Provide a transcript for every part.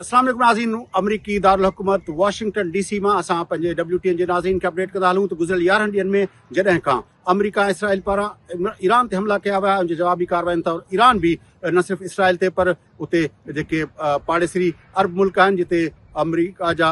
اسلام عليڪم ناظرين آمريڪي دارالحڪومت واشنگٽن ڊي سي مان اسان پنهنجي ڊبليو ٽي اين جي ناظرين کي اپڊيٽ ڪندا هلون ته گذريل يارهن ڏينهن ۾ جڏهن کان آمريڪا ۽ اسرائيل پاران ايران تي حملا ڪيا ويا ان جي جوابي ڪارواين طور ايران به نه صرف اسرائيل تي پر اتي جيڪي پاڙيسري عرب ملڪ آهن جتي آمريڪا جا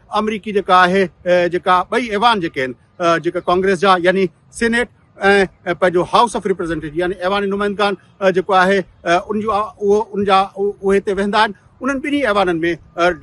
آمريڪي جيڪا آهي جيڪا ٻئي ايوان جيڪي آهن جيڪا ڪانگريس جا يعني سينيٽ ۽ پنهنجو هائوس آف ريپريزنٽيٽو يعني ايوان نمائندگان جيڪو آهي ان جو اهو ان جا اهي هتي ويهندا آهن انهن ٻنهي ايوانن ۾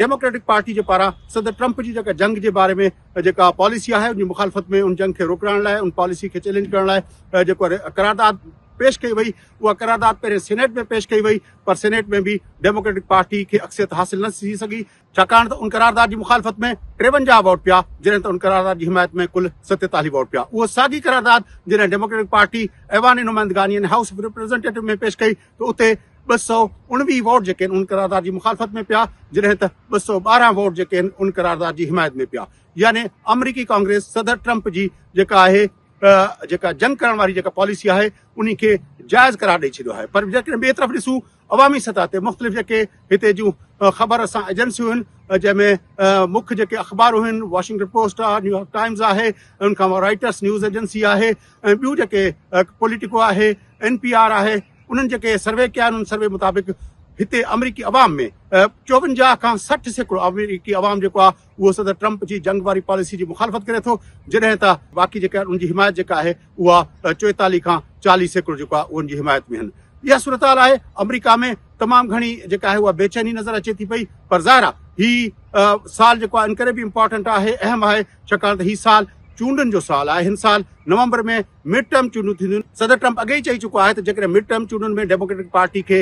ڊيموڪريٽڪ پارٽي جي پاران صدر ٽرمپ جي جيڪا جنگ جي باري ۾ جيڪا پاليسي آهي ان جي مخالفت ۾ ان جنگ کي روڪرائڻ لاء ان پاليسي کي چيلينج ڪرڻ لاء جيڪو قرارداد پيش ڪئي وئي اها قرارداد پهرين سينيٽ ۾ پيش ڪئي وئي پر سينيٽ ۾ به ڊيموڪريٽڪ پارٽي کي اڪثريت حاصل نه ٿي سگهي ڇاڪاڻ ته ان قرارداد جي مخالفت ۾ ٽيونجاهه ووٽ پيا جڏهن ته ان قرارداد جي حمايت ۾ ڪل ستيتاليهه ووٽ پيا اهو ساڳي قرارداد جڏهن ڊيموڪريٽڪ پارٽي ايوان نمائندگان يعني هائوس آف ريپريزنٽيٽو ۾ پيش ڪئي ته اتي ٻه سؤ اڻويهه ووٽ جيڪي ان قرارداد جي مخالفت ۾ پيا جڏهن ته ٻه سؤ ٻارهن ووٽ جيڪي آهن ان قرارداد جي حمايت ۾ پيا يعني آمريڪي ڪانگريس صدر ٽرمپ جي جيڪا آهي جيڪا جنگ ڪرڻ واري جيڪا پاليسي آهي انهي کي جائز قرار ڏئي ڇڏيو آهي پر جيڪڏهن ٻئي طرف ڏسون عوامي سطح تي مختلف جيڪي هتي جون خبر رسان ايجنسيون هن جنهن ۾ مک جيڪي اخبارون هن واشنگٽن پوسٽ آهي نيويارڪ ٽائمز آهي ان کان رائٽرس نيوز ايجنسي آهي ۽ ٻيون جيڪي پوليٽيڪو آهي اين پي آر آهي انهن جيڪي سروي ڪيا آهن ان سروي مطابق هتي آمريڪي عوام ۾ چوونجاهه کان سٺ سيڪڙو آمريڪي عوام جيڪو آهي اهو صدر ٽرمپ جي جنگ واري پاليسي جي مخالفت ڪري ٿو جڏهن ته باقي جيڪي ان جي حمايت جيڪا آهي اها چوئيتاليهه کان چاليهه سيڪڙو جيڪو آهي اهو ان جي حمايت ۾ آهن. اها صورتحال آهي آمريڪا ۾ تمام گهڻي جيڪا آهي اها بيچيني نظر اچي ٿي پئي پر ظاهر آهي هي سال جيڪو آهي ان ڪري به امپارٽنٽ آهي اهم آهي ڇاڪاڻ ته هي سال چونڊن جو سال آهي هن سال نومبر ۾ مڊ ٽرم چونڊون ٿينديون، صدر ٽرمپ اڳي ئي چئي چڪو آهي ته جيڪڏهن مڊ ٽرم چونڊن ۾ ڊيموڪريٽڪ پارٽي کي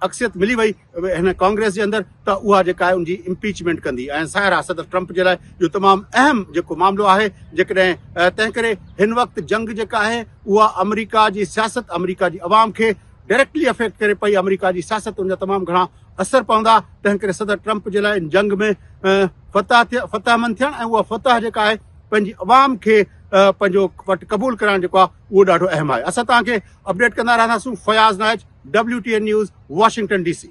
اڪثريت ملي وئي هن ڪانگريس جي اندر ته اها جيڪا آهي ان جي امپيچمينٽ ڪندي ۽ ظاهرا صدر ٽرمپ جي لاء اهو تمام اهم جيڪو معاملو آهي جيڪڏهن تنهن ڪري هن وقت جنگ جيڪا آهي اها آمريڪا جي سياست آمريڪا جي عوام کي ڊائريڪٽلي افيڪٽ ڪري پئي آمريڪا جي سياست ان جا تمام گهڻا اثر پوندا تنهن ڪري صدر ٽرمپ جي لاء ان جنگ ۾ فتح فتح مند ٿيڻ ۽ اها فتح جيڪا آهي پنهنجي عوام کي پنهنجو وٽ قبول ڪرائڻ جيڪو آهي اهو ڏاڍو اهم آهي اسان توهان کي اپڊيٽ ڪندا رهنداسون Fayaz Naich WTN News Washington D سي